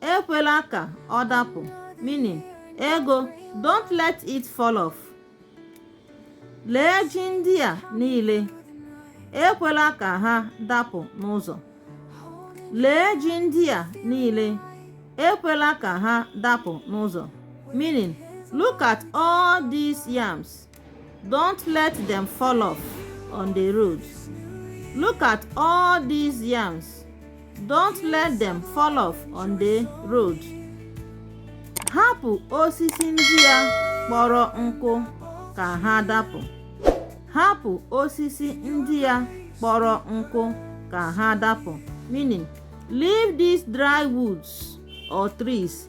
ekwela ka ọ dapụ meaning ego don't let it fall off lee ji ndị a niile ekwela ka ha dapụ n'ụzọ lee ji ndị a niile ekwela ka ha dapụ n'ụzọ meaning look at all these yams Don't let them fall off on the road. Look at all these yams. Don't let them fall off on the road. Hapụ osisi ndị a kpọrọ nkụ ka ha dapụ. Hapụ osisi ndị a kpọrọ nkụ ka ha dapụ. Meaning, leave these dry woods or trees